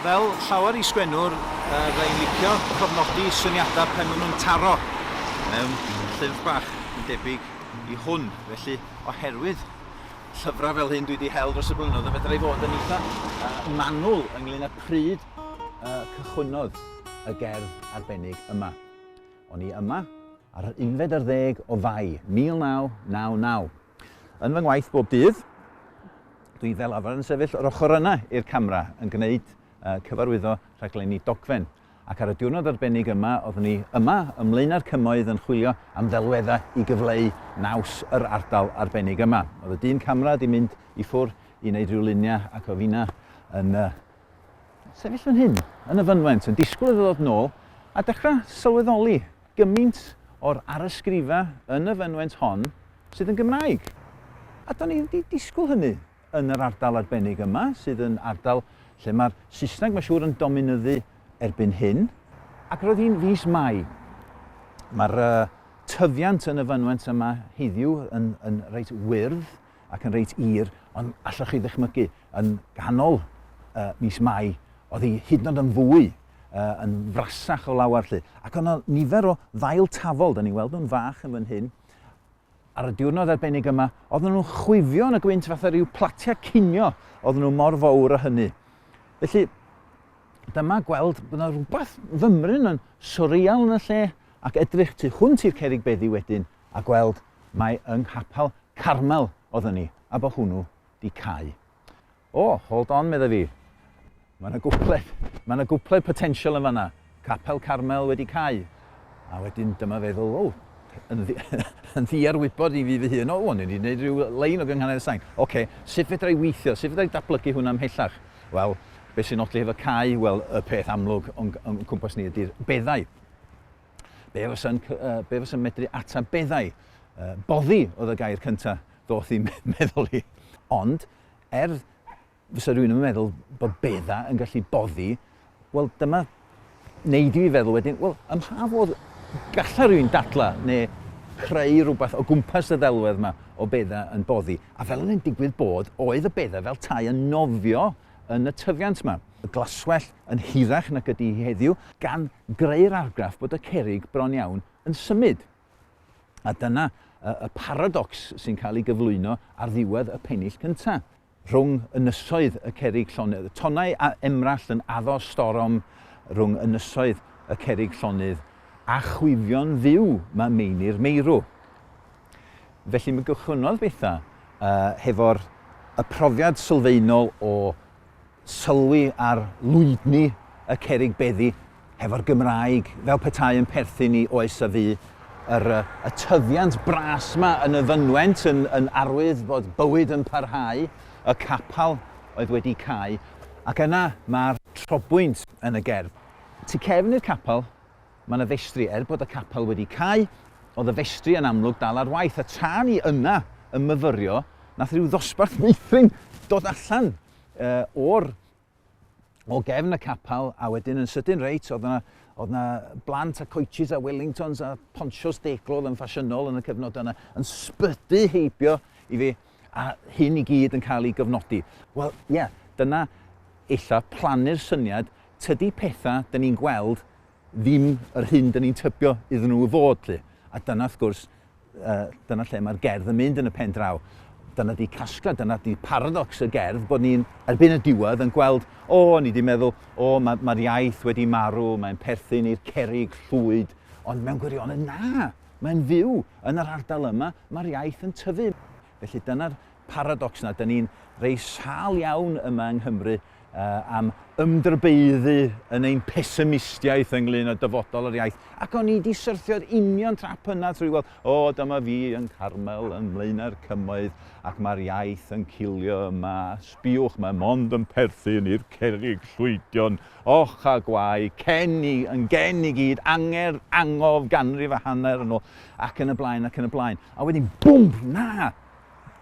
fel llawer i sgwennwr, uh, fe'n licio cofnodi syniadau pen maen nhw'n taro mewn llyfr bach yn debyg i hwn. Felly, oherwydd llyfrau fel hyn dwi 'di hel dros y blynyddoedd, fedra i fod yn eitha manwl ynglŷn â pryd y cychwynnodd y gerdd arbennig yma. O'n i yma ar yr unfed ar ddeg o Fai, 1999. Yn fy ngwaith bob dydd, dwi fel arfer yn sefyll yr ochr yna i'r camera yn gwneud cyfarwyddo rhaglenni dogfen. ac ar y diwrnod arbennig yma oeddwn i yma ym Mlaenau'r Cymoedd yn chwilio am ddelweddau i gyfleu naws yr ardal arbennig yma. Oedd y dyn camera di mynd i ffwr i wneud rhyw luniau ac oedd fina yn uh, sefyll yn hyn, yn y fynwent, yn disgwyl iddo ddod nôl a dechrau sylweddoli gymaint o'r arysgrifa yn y fynwent hon sydd yn Gymraeg. A do'n i wedi disgwyl hynny. yn yr ardal arbennig yma, sydd yn ardal lle mae'r Saesneg mae'n siŵr yn dominyddu erbyn hyn. Ac roedd hi'n fis Mai. Mae'r uh, tyfiant yn y fynwent yma heddiw yn, yn reit wyrdd ac yn reit ir, ond allwch chi ddychmygu yn ganol uh, mis Mai, oedd hi hyd yn oed yn fwy uh, yn frasach o lawer lly. Ac yna nifer o ddail tafol, da ni'n weld nhw'n fach yn fan hyn, Ar y diwrnod arbennig yma, oedden nhw'n chwifio yn y gwynt fatha rhyw platiau cinio, oedden nhw mor fawr o hynny. Felly, dyma gweld bod yna rhywbeth fymryn yn sorial yn y lle ac edrych tu hwnt i'r cerig beddi wedyn a gweld mae yng nghapel Carmel oedden ni a bod hwnnw di cau. O, hold on, medda fi. Mae yna gwpled, mae yna gwpled potensial yn fanna. Capel Carmel wedi cau. A wedyn dyma feddwl, o, yn, ddi, yn ddiar wybod i fi fy hun, o, o'n i wedi gwneud rhyw lein o gynghanedd y sain. Oce, okay, sut fedra i weithio, sut fedra i datblygu hwnna ymhellach? Wel, beth sy'n nodi hefo cau? Wel, y peth amlwg o'n, o'n cwmpas ni ydy'r beddau. Be fysa'n uh, be fysa medru ata beddau? Uh, boddi oedd y gair cyntaf ddoth i'n meddwl i. Ond, er fysa rhywun yn meddwl bod bedda yn gallu boddi, wel dyma wneud i fi feddwl wedyn, wel ym mha fodd gallai rhywun dadla neu creu rhywbeth o gwmpas y ddelwedd yma o bedda yn boddi. A fel yn digwydd bod, oedd y bedda fel tai yn nofio yn y tyfiant yma. Y glaswell yn hirach nag ydy hi heddiw, gan greu'r argraff bod y cerig bron iawn yn symud. A dyna y paradocs sy'n cael ei gyflwyno ar ddiwedd y pennill cyntaf. Rhwng ynysoedd y cerrig llonydd, tonnau a emrallt yn addo storom rhwng ynysoedd y cerrig llonydd a chwifio'n fyw mae meini'r meirw. Felly mae gychwynnodd bethau uh, hefo'r y profiad sylfaenol o sylwi ar lwydni y cerrig beddi hefo'r Gymraeg, fel petai yn perthyn i oes a fu, yr y tyfiant bras 'ma yn y fynwent yn yn arwydd bod bywyd yn parhau, y capal oedd wedi cau, ac yna mae'r trobwynt yn y gerdd. Tu cefn i'r capal, Mae 'na ddestri, er bod y capel wedi cau, oedd y festri yn amlwg dal ar waith, a tra ni yna yn myfyrio, nath rhyw ddosbarth meithrin dod allan uh, o'r o gefn y capel, a wedyn yn sydyn reit, oedd yna oedd na blant a coaches a Wellingtons a ponchos deglo oedd yn ffasiynol yn y cyfnod yna, yn sbydu heibio i fi, a hyn i gyd yn cael ei gyfnodi. Wel, ie, yeah, dyna illa plannu'r syniad, tydi pethau dyn ni'n gweld ddim yr hyn dyn ni'n tybio iddyn nhw fod, lli. A dyna, wrth gwrs, uh, dyna lle mae'r gerdd yn mynd yn y pen draw. Dyna di casgla, dyna di paradox y gerdd, bod ni'n erbyn y diwedd yn gweld, o, oh, ni di meddwl, o, oh, mae'r ma iaith wedi marw, mae'n perthyn i'r cerig llwyd, ond mewn gwirionedd, na, mae'n fyw yn yr ardal yma, mae'r iaith yn tyfu. Felly dyna'r Paradox na, 'da ni'n rei sâl iawn yma yng Nghymru am ymdrybaeddu yn ein pesimistiaeth ynglŷn â dyfodol yr iaith, ac o'n i 'di syrthio'r union trap yna trwy weld, o, dyma fi yn Carmel yn Mlaenau'r Cymoedd ac mae'r iaith yn cilio yma, sbiwch, mae mond yn perthyn i'r cerrig llwydion, och a gwae, cen i, yn gen i gyd, angerdd, angof, ganrif a hanner yn ôl, ac yn y blaen, ac yn y blaen. A wedyn, bwmp, na!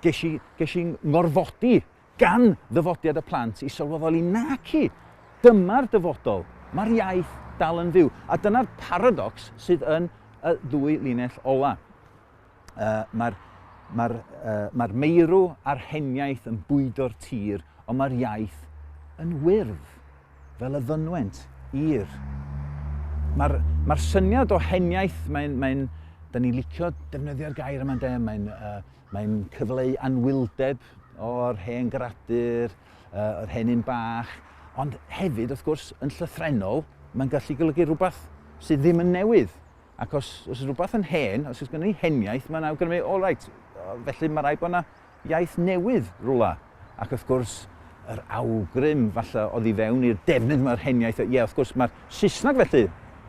Ges i, ges i ngorfodi gan ddyfodiad y plant i sylweddoli naci, dyma'r dyfodol, mae'r iaith dal yn fyw. A dyna'r paradox sydd yn y ddwy linell ola. Uh, mae'r mae uh, mae meirw a'r heniaeth yn bwydo'r tir, ond mae'r iaith yn wyrdd. Fel y fynwent i'r. Mae'r mae'r syniad o heniaith, mae'n, mae'n, da ni'n licio defnyddio'r gair yma de, mae'n, uh, mae'n cyfleu anwyldeb o'r hen gradur, uh, yr hen un bach, ond hefyd, wrth gwrs, yn llythrenol, mae'n gallu golygu rhywbeth sydd ddim yn newydd. Ac os, os rhywbeth yn hen, os oes gen i heniaith, mae'n awgrymu, all right, felly mae rhaid bod yna iaith newydd rywle, ac wrth gwrs, yr awgrym falle oedd i fewn i'r defnydd yma o'r hen iaith, ie, wrth gwrs, mae'r Saesneg felly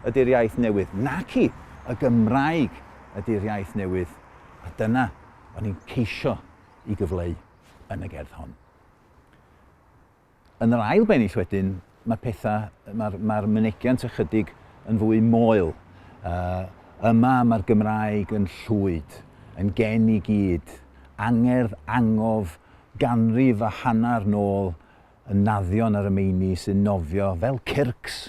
ydy'r iaith newydd, naci y Gymraeg ydy'r iaith newydd, a dyna o'n i'n ceisio i gyfleu yn y gerdd hon. Yn yr ail bennill wedyn, mae pethau, mae'r mae mynegiant ychydig yn fwy moel. Uh, yma mae'r Gymraeg yn llwyd, yn gen i gyd, angerdd angof ganrif a hanner nôl yn naddion ar y meini sy'n nofio fel cyrcs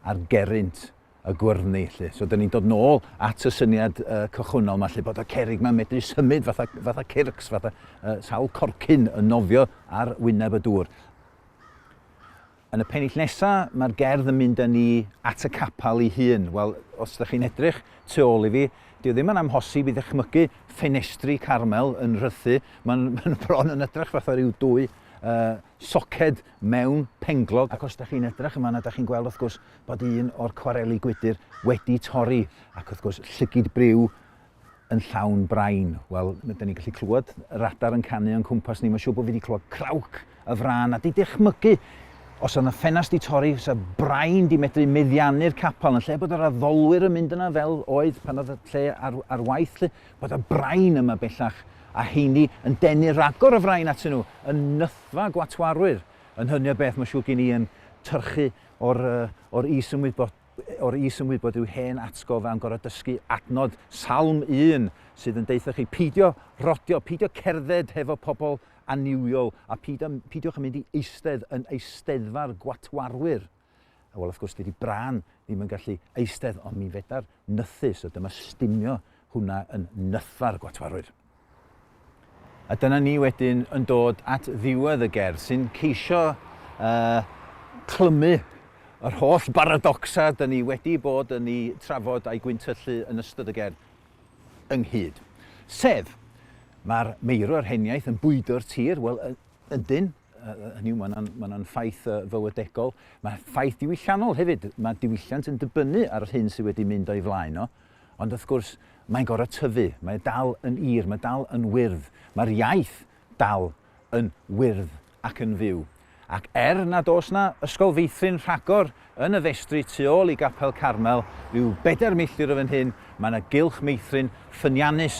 ar gerrynt y gwyrddni 'lly. So 'dyn ni'n dod nôl at y syniad uh, cychwynnol 'ma 'lly bod y cerig 'ma'n medru symud fatha, fatha circs, fatha uh, sawl corcyn yn nofio ar wyneb y dŵr. Yn y pennill nesaf, mae'r gerdd yn mynd â ni at y capel ei hun. Wel, os ydych chi'n edrych tu ôl i fi, dyw ddim yn amhosib i ddechmygu ffenestri Carmel yn rhythu. Mae'n ma bron yn edrych fatha rhyw dwy uh, soced mewn penglog. Ac os dach chi'n edrach yn fanna dach chi'n gweld wrth gwrs bod un o'r cwareli gwydyr wedi torri ac wrth gwrs llygid briw yn llawn brain. Wel, da ni'n gallu clywed yr adar yn canu o'n cwmpas ni. Mae'n siŵr bod fi wedi clywed crauc y frân a di dychmygu os oedd yna ffenast di torri, os oedd brain di medru meddiannu'r capel yn lle bod yr addolwyr yn mynd yna fel oedd pan oedd y lle ar, ar waith. Lle. bod y brain yma bellach, a heini yn denu ragor o frain atyn nhw, yn nythfa gwatwarwyr, yn hynny o beth mae siŵr gen i yn tyrchu o'r, uh, or is ymwybod, o'r is ymwybod yw hen atgof am gorau dysgu adnod salm un sydd yn deitha chi peidio rodio, peidio cerdded hefo pobl aniwiol a peidio, peidiwch yn mynd i eistedd yn eisteddfa'r gwatwarwyr. A wel, wrth gwrs, dydy Bran ddim yn gallu eistedd, ond mi fedar nythu, so dyma stumio hwnna yn nytha'r gwatwarwyr. A dyna ni wedyn yn dod at ddiwedd y gerdd sy'n ceisio uh, clymu yr holl baradocsa dyn ni wedi bod yn ei trafod a'i gwyntyllu yn ystod y gerdd ynghyd. Sef, mae'r meirwr heniaeth yn bwydo'r tir, wel, ydyn, hynny yw, mae'n ma yna ffaith fywydegol. Mae ffaith diwylliannol hefyd. Mae diwylliant yn dibynnu ar yr hyn sydd wedi mynd o'i flaen o. Ond wrth gwrs, mae'n gorau tyfu. Mae e dal yn ir, mae dal yn wyrdd. Mae'r iaith dal yn wyrdd ac yn fyw. Ac er nad oes yna ysgol feithrin rhagor Yn y festri tu ôl i Gapel Carmel, ryw bedair milltir o fan hyn, mae yna gylch meithrin ffyniannus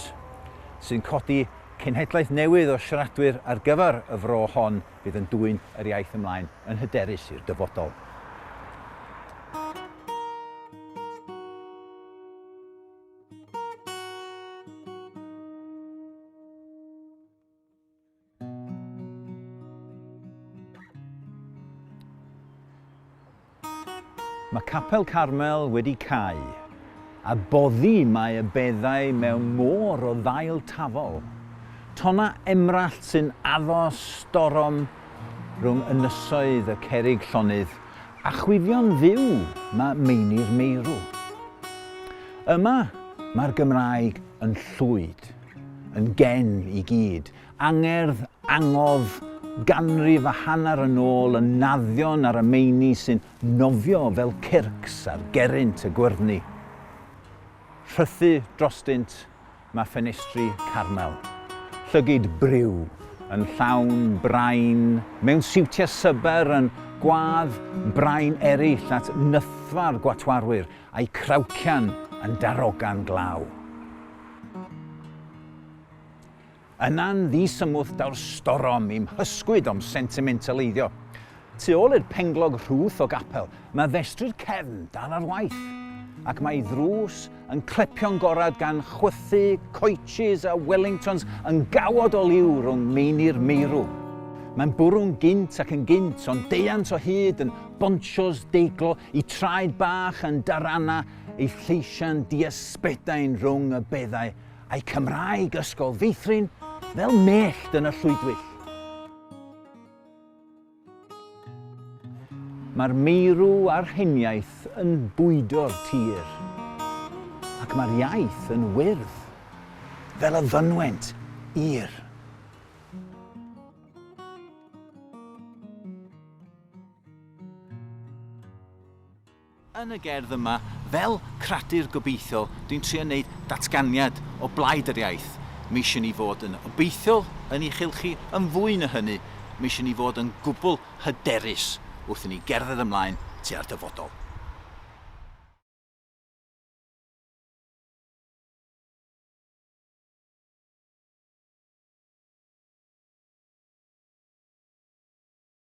sy'n codi cenhedlaeth newydd o siaradwyr ar gyfer y fro hon fydd yn dwyn yr iaith ymlaen yn hyderus i'r dyfodol. Mae Capel Carmel wedi cau, a boddi mae y beddau mewn môr o ddail tafol. Tonna emrallt sy'n addo storom rhwng ynysoedd y cerrig llonydd a chwifio'n fyw mae meini'r meirw. Yma mae'r Gymraeg yn llwyd. yn gen i gyd. Angerdd, angof, ganrif a hanner yn ôl y naddion ar y meini sy'n nofio fel cyrcs ar gerrynt y gwyrddni. Rhythu drostynt mae ffenestri Carmel. Llygid briw, yn llawn brain, mewn siwtiau syber yn gwadd brain eraill at nythfa'r gwatwarwyr, a'u crawcian yn darogan glaw. Yna'n ddisymwth daw'r storom i'm hysgwyd o'm sentimentaleiddio. Tu ôl i'r penglog rhwth o gapel, mae festri'r cefn dal ar waith, ac mae'i ddrws yn clepio'n gorad gan chwythu coaches a Wellingtons yn gawod o liw rhwng meini'r meirw. Mae'n bwrw'n gynt ac yn gynt, ond deuant o hyd yn bonsios deiglo, i traed bach yn Darana ei lleisiau'n diasbedain rhwng y beddau a'i Cymraeg ysgol feithrin fel mellt yn y llwydwyll. Mae'r meirw a'r heniaith yn bwydo'r tir, ac mae'r iaith yn wyrdd fel y fynwent i'r. Yn y gerdd yma, fel cradur gobeithiol, dwi'n trio neud datganiad o blaid yr iaith. M'eisiau ni fod yn obeithiol yn i chylchu, yn fwy na hynny, m'eisiau ni fod yn gwbl hyderus wrth i ni gerdded ymlaen tua'r dyfodol.